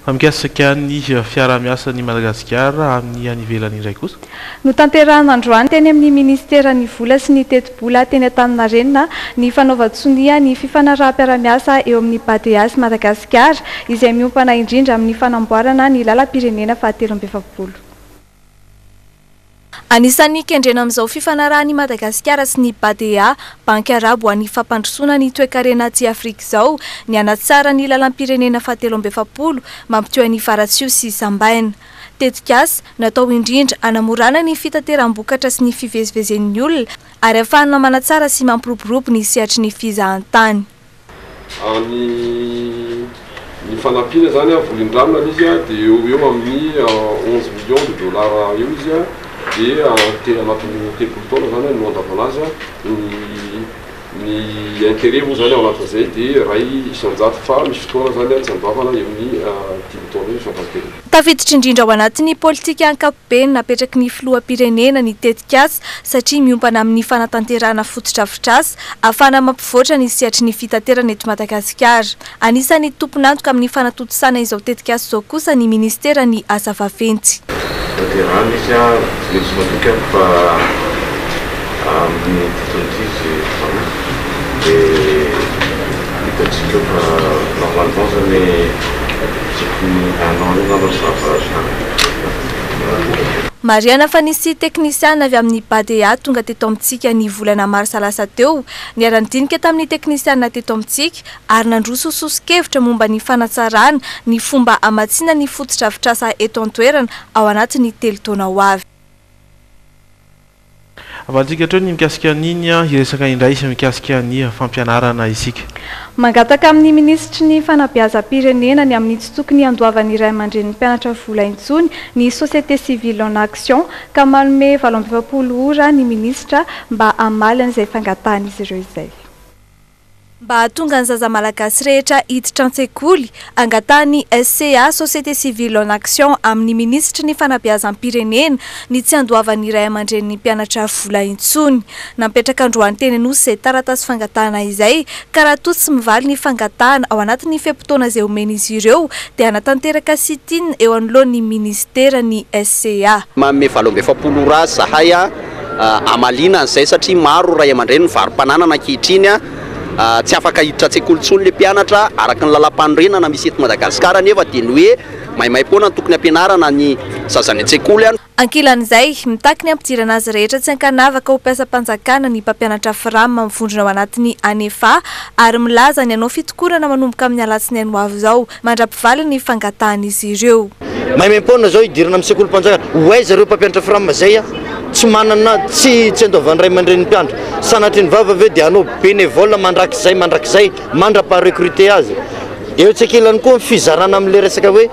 Fa mikasika ny fiaraha-miasa ny Madagasikara amin'ny any ivelany indray kosa? Notanterahina androany teny amin'ny minisiteran'ny vola sy ny tetibola teny Antaninarenina ny fanaovan-tsonia ny fifanaraham-piaraha-miasa eo amin'ny Badea sy Madagasikara izay miompana indrindra amin'ny fanamboarana ny lalam-pirenena fahatelo amby efapolo. Anisan'ny kendrena amin'izao fifanarahan'i Madagasikara sy ny BADEA, Banky Arabo ho an'ny Fampandrosoana ny Toekarena aty Afrika izao ny hanatsara ny lalam-pirenena fahatelo amby efapolo mampitohy an'i Faratsiho sy Sambaina. Tetikasa natao indrindra hanamorana ny fitateram-bokatra sy ny fivezivezen'ny olona ary hahafahana manatsara sy mampiroborobo ny sehatry ny fizahantany. Any ny fanampiana izany an, volin-drano any izy dia eo ho eo amin'ny onze millions de dollars eo izy an, dia tena anatin'ny telopolo taona izany no handavana azy an, ny ny intérêt moa izany ao anatin'izay dia iray isan-jato fa misy fotoana izany an tsy handavana eo amin'ny dimy taona eo ny farafahakeliny. Tafiditra indrindra ao anatin'ny politika ankapobeny napetraky ny Filoham-pirenena ny tetikasa satria miompana amin'ny fanatanterahana fotodrafitrasa ahafahana mampivoatra ny sehatry ny fitaterana eto Madagasikara. Anisan'ny tompon'antoka amin'ny fanatontosana izao tetikasa izao kosa ny Ministeran'ny Asa vaventy. Tanterahana izy, tsy maintsy matoky aho fa. Amin'ny dika ankizy izany dia hitantsika eo fa normalement izany tokony hainao ihany ianao zava kanto. Marihana fa nisy teknisiana avy amin'ny Badea tonga teto amintsika ny volana marsa lasa teo, niara-nidinika tamin'ny teknisiana teto amintsika ary nandroso soso-kevitra momba ny fanatsarana ny fomba hamatsiana ny fotodrafitrasa eto an-toerana ao anatin'ny telo taona ho avy. Avalintsika hatreo ny mikasika an'iny hiresaka indray sy mikasika ny fampianarana isika. Mangataka amin'ny minisitry ny fanabeazam-pirenena ny amin'ny tsy tokony handoavan'ny ray aman-drenin'ny mpianatra vola intsony ny société civile en action ka manome valo amby efapolo ora ny minisitra mba hamaly an'izay fangatahan'izy ireo izay. mba hahatonga ny zaza malagasy rehetra hiditra an-tsekoly, angatahan'ny SCA, Société Civile en Action, amin'ny minisitry ny Fanabeazam-pirenena ny tsy handoavan'ny ray aman-drenin'ny mpianatra vola intsony. Nametraka androany teny Anosy izay taratasy fangatahana izay ka raha toa tsy mivaly ny fangatahana ao anatin'ny fe-potoana izay omen'izy ireo dia hanatanteraka sit-in eo anoloan'ny minisitera ny SCA. Manome valo amby efapolo ora zahay. hamaliana an'izay satria maro ray aman-dreny mivarom-pananana ankehitriny, tsy afaka hiditra an-tsekoly intsony ilay mpianatra araka ny lalam-panorenana misy eto Madagasikara anefa dia ny hoe maimaimpoana no tokony hampianarana ny zaza any an-tsekoly. Ankilan'izay, mitaky ny hampidirana azy rehetra tsy an-kanavaka ho mpiasam-panjakana ny mpampianatra Fram mivondrona ao anatin'ny Anefa ary milaza ny hanao fitokonana manomboka amin'ny alatsinainy ho avy izao Mandra-pivaly ny fangatahan'izy ireo. Maimaim-poana izao hidirana amin'ny sekolim-panjakana ho aiza ireo mpampianatra Fram izay tsy manana, tsy tsy andoavan'ny ray aman-drenin'ny mpiandry? Sanatria ny vava ve dia hanao bénévole mandrakizay mandrakizay mandra-paha-recruter azy? Etsy ankilany koa ny fizarana amin'ilay resaka hoe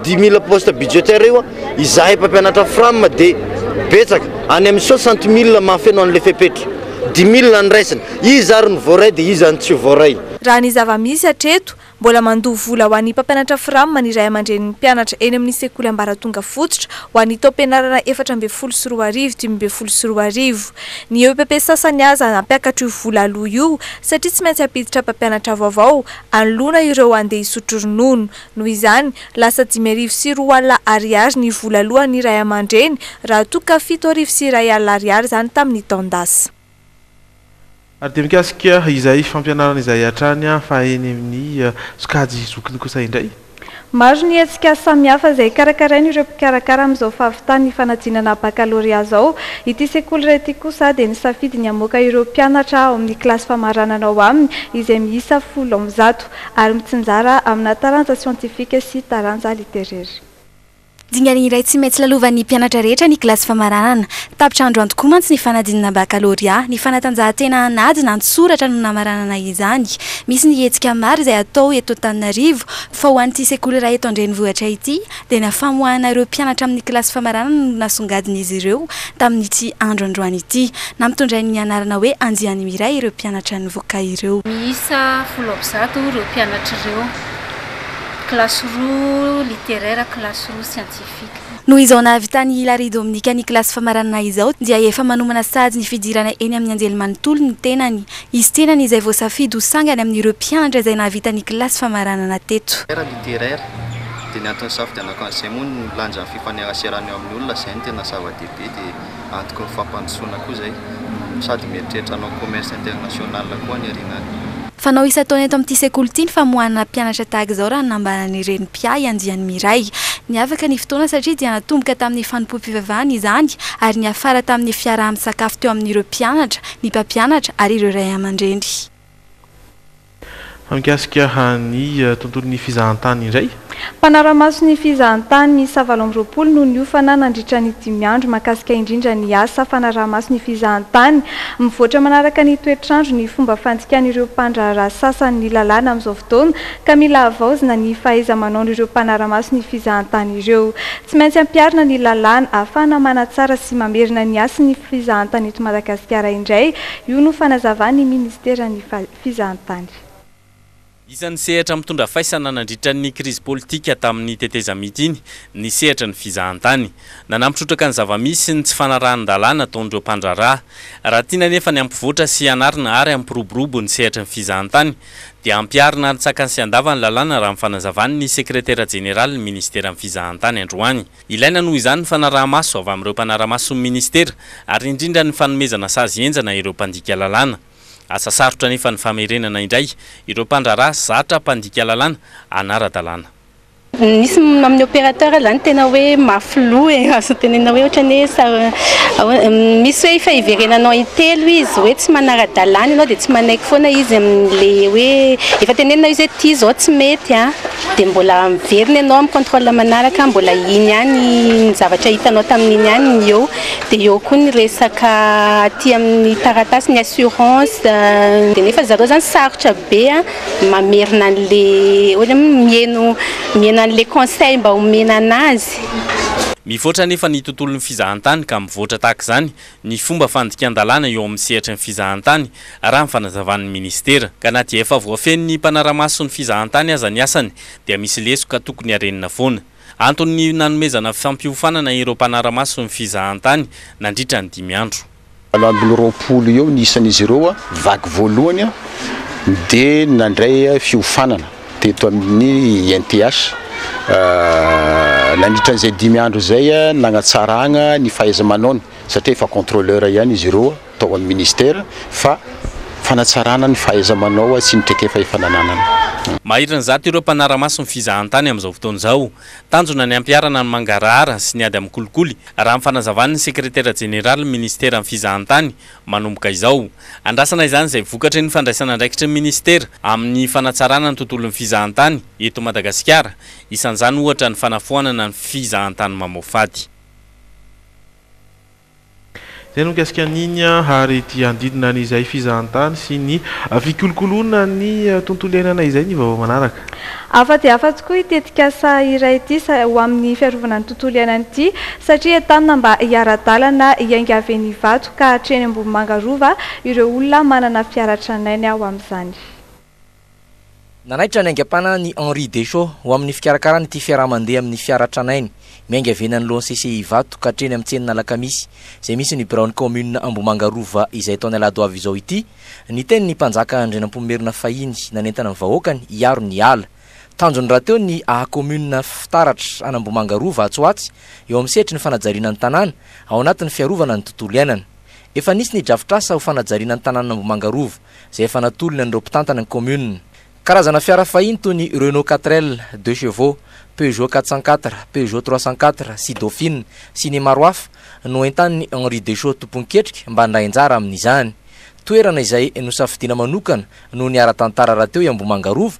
dix mille postes budgétaires io, izahay mpampianatra Fram dia betsaka, any amin'ny soixante mille mahafeno an'ilay fepetra. Dix mille no raisina. Iza ary no voaray dia iza no tsy voaray? Raha ny zava-misy hatreto, mbola mandoa vola ho an'ny mpampianatra Fram ny ray aman-drenin'ny mpianatra eny amin'ny sekoly ambaratonga fototra ho an'ny taom-pianarana efatra ambin'ny folo sy roa arivo, dimy ambin'ny folo sy roa arivo. Ny epp sasany aza nampiakatra io vola aloa io satria tsy maintsy hampiditra mpampianatra vaovao hanoloana ireo handeha hisotro ronono. Noho izany, lasa dimy arivo sy roa alina Ariary ny vola aloan'ny ray aman-dreny raha toa ka fito arivo sy iray alina Ariary izany tamin'ny taon-dasa. Ary dia mikasika izay fampianarana izay hatrany fa eny amin'ny sokajy zokiny kosa indray? Maro ny hetsika samihafa izay karakarain' ireo mpikarakara amin'izao fahavitan'ny fanadinana bakalorea izao. Ity sekoly iray ity kosa dia nisafidy ny hamoaka ireo mpianatra ao amin'ny kilasy famaranana ao aminy izay miisa folo amby zato ary mitsinjara amina taranja siantifika sy taranja literera. Dingana iray tsy maintsy lalovan'ny mpianatra rehetra ny kilasy famaranana. Tapitra andro antokoa mantsy ny fanadinana bakalorea. Ny fanatanjahantena an'ady na an-tsoratra no namaranana izany. Misy ny hetsika maro izay atao eto Antananarivo fa ho an'ity sekoly iray eto an-drenivohitra ity dia na famoahana ireo mpianatra amin'ny kilasy famaranana no nasongadin'izy ireo tamin'ity andro androany ity. Nampitondrain'ny anarana hoe Andiany Miray ireo mpianatra nivoka ireo. Miisa folo amby zato ireo mpianatra ireo. kilasy roa littéraire, kilasy roa scientifique. Noho izao nahavitan'i Hilary Dominica ny kilasy famaranana izao dia efa manomana sahady ny fidirana eny amin'ny anjelimanontolo ny tenany. Izy tenany izay voasafidy ho sangany amin'ireo mpianatra izay nahavita ny kilasy famaranana teto. Littéraire, dia ny antony nisafidianako an'izay moa ny lanjan'ny fifaneraserana eo amin'ny olona, izay no tena zava-dehibe, dia antoky ny fampandrosoana koa izay, sady mieritreritra hanao commerce international koa any aoriana any. Fanao isan-taona eto amin'ity sekoly ity ny famoahana mpianatra tahaka izao raha ny nambaran'ny reny mpiahy andiany Miray. Niavaka ny fotoana satria dia natomboka tamin'ny fanompoam-pivavahana izany ary niafara tamin'ny fiaraha-misakafo teo amin'ireo mpianatra, ny mpampianatra ary ireo ray aman-dreny. Fa mikasika ny tontolon'ny fizahantany indray Mpanara-maso ny fizahantany miisa valo amby roapolo no niofana nandritra ny dimy andro mahakasika indrindra ny asa fanaraha-maso ny fizahantany. Mivoatra manaraka ny toetr'andro ny fomba fandikan'ireo mpandraharaha sasany ny lalàna amin'izao fotoana ka mila havaozina ny fahaiza-manaon'ireo mpanara-maso ny fizahantany ireo. Tsy maintsy ampiharina ny lalàna ahafahana manatsara sy mamerina ny hasin'ny fizahantany eto Madagasikara indray io no fanazavan'ny minisiteran'ny fizahantany. Isan'ny sehatra mitondra faisana nandritra ny krizy politika tamin'ny tetezamita iny ny sehatry ny fizahantany. Nanampy trotraka ny zava-misy ny tsy fanarahan-dalàna ataon'ireo mpandraharaha. Raha tiana anefa ny hampivoatra sy hanarina ary hampiroborobo ny sehatry ny fizahantany dia hampiharina arintsakany sy handava ny lalàna raha ny fanazavan'ny sekretera jeneralin'ny ministeran'ny fizahantany androany. Ilaina noho izany ny fanaraha-maso avy amin'ireo mpanara-mason'ny ministera ary indrindra ny fanomezana sazy henjana ireo mpandika lalàna. Asa sarotra anefa ny famerenana indray ireo mpandraharaha zatra mpandika lalàna hanara-dalàna. Misy amin'ny opérateur izany tena hoe mafy loha e, azo tenenina hoe ohatran'ny hoe misy hoe efa hiverenanao intelo izy hoe tsy manara-dalàna ianao dia tsy manaiky foana izy amin'ilay hoe efa tenenina izy hoe ity izao tsy mety an, dia mbola miverina ianao amin'ny contrôle manaraka mbola iny ihany ny zavatra hitanao tamin'iny ihany no eo. Dia eo koa ny resaka aty amin'ny taratasy ny assurance dia nefa zareo zany sarotra be mamerina an'le ohatra hoe miheno miheno an'le conseil mba omena anazy. Mivoatra anefa ny tontolon'ny fizahantany ka mivoatra tahaka izany ny fomba fandikan-dalàna eo amin'ny sehatry ny fizahantany raha ny fanazavan'ny minisitera ka na dia efa voafehin'ny mpanara-maso ny fizahantany aza ny asany dia misy lesoka tokony harenina foana. Anton'ny nanomezana fampiofanana ireo mpanara-maso ny fizahantany nandritra ny dimy andro. Valo ambin'ny roapolo eo ny isan'izy ireo vaky voalohany dia nandray fiofanana teto amin'ny INTH. Nandritra an'izay dimy andro izay nagnatsaragna ny fahaiza-manaony satria efa contrôleur ihany izy ireo. tao amin'ny Ministera fa fanatsarana ny fahaiza-manao sy ny traikefa efa nananana. Maherin'ny zato ireo mpanara-maso ny fizahantany amin'izao fotoana izao. Tanjona ny hampiharana ny mangarahara sy ny ady amin'ny kolikoly, raha ny fanazavan'ny Sekretera Jeneralin'ny Ministeran'ny Fizahantany, manomboka izao. Andrasana izany izay vokatry ny fandraisan'andraikitry ny Ministera amin'ny fanatsarana ny tontolon'ny fizahantany eto Madagasikara, isan'izany ohatra ny fanafoanana ny fizahantany mamoafady. Izay no mikasika an'iny ary ity handidina an'izay fizahantany sy ny fikolokoloana ny tontolo iainana izay ny vaovao manaraka. Hafa dia hafa tokoa ity tetikasa iray ity ho amin'ny fiarovana ny tontolo iainana ity satria entanina mba hiara-dalana hiainga avy eny Ivato ka hatreny Ambohimanga Rova ireo olona manana fiara tranainy ao amin'izany. Nanaitra ny aingam-panahin' i Henri Deschaux ho amin' ny fikarakarana ity fiaraha-mandeha amin' ny fiara tranainy miainga avy eny anoloan' ny CCI Ivato ka hatreny amin' ny tsenin' Alakamisy izay misy ny biraon' ny kaominina Ambohimanga Rova izay tao ny alahady ho avy izao ity ny tenin' ny mpanjaka Andrianampoinimerina fahiny nanentana ny vahoakany hiaro ny ala. Tanjony rahateo ny haha-kaominina fitaratra an' Ambohimanga Rova atsy ho atsy eo amin' ny sehatry ny fanajariana ny tanàna ao anatin' ny fiarovana ny tontolo iainana. Efa nisy ny drafitr'asa ho fanajariana ny tanànan' Ambohimanga Rova. izay efa natolony an'ireo mpitantana ny kaominina. Karazana fiara fahiny toy ny Renault Quatre-L, Deux Chevaux, Peugeot quatre cent quatre, Peugeot trois cent quatre sy Dauphine sy ny maro hafa no entanin'i Henri Deschaux tomponketrika mba handray anjara amin'izany. Toerana izay nosafidiana manokana no niara-tantara rahateo i Ambohimanga Rova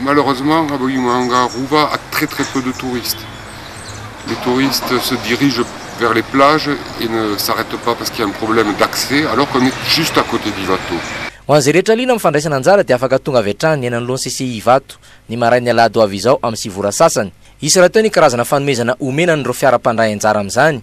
Malheureusement avy eo Imahanga Rova a très très peu de touristes. Les touristes se dirigent vers les plages et ne s'arrêtent pas parce qu'il y a un problème d'accès alors qu'on est juste à côté d'Ivato. Ho an'izay rehetra liana amin'ny fandraisana anjara dia afaka tonga avy hatrany ny eny anoloan'ny CCI Ivato ny marain'ny alahady ho avy izao amin'ny sivy ora sasany. Hisy rahateo ny karazana fanomezana homena an'ireo fiara mpandray anjara amin'izany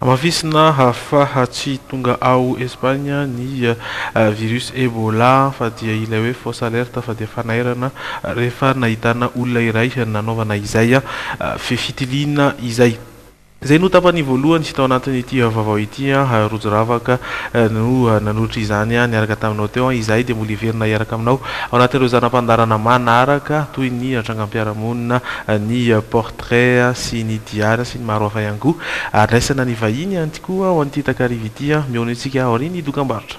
Hamafisina hahafaha tsy tonga ao Espagne ny virus Ebola fa dia ilay hoe fausse alerte fa dia fanairana rehefa nahitana olona iray nanaovana izay fitiliana izay. Izay no tapany voalohany tao anatin'ity vaovao ity an! Rojo ravaka no nanolotra izany niaraka taminao teo an! Izahay dia mbola hiverina hiaraka aminao ao anatin'ireo zana-pandaharana manaraka toy ny trangam-piarahamonina ny Porte Rea sy ny Diara sy ny maro hafa ihany koa. Ary raisana ny vahiny ihany koa ao amin'ity takariva ity. Mihaona antsika aorian'ny dokambarotra.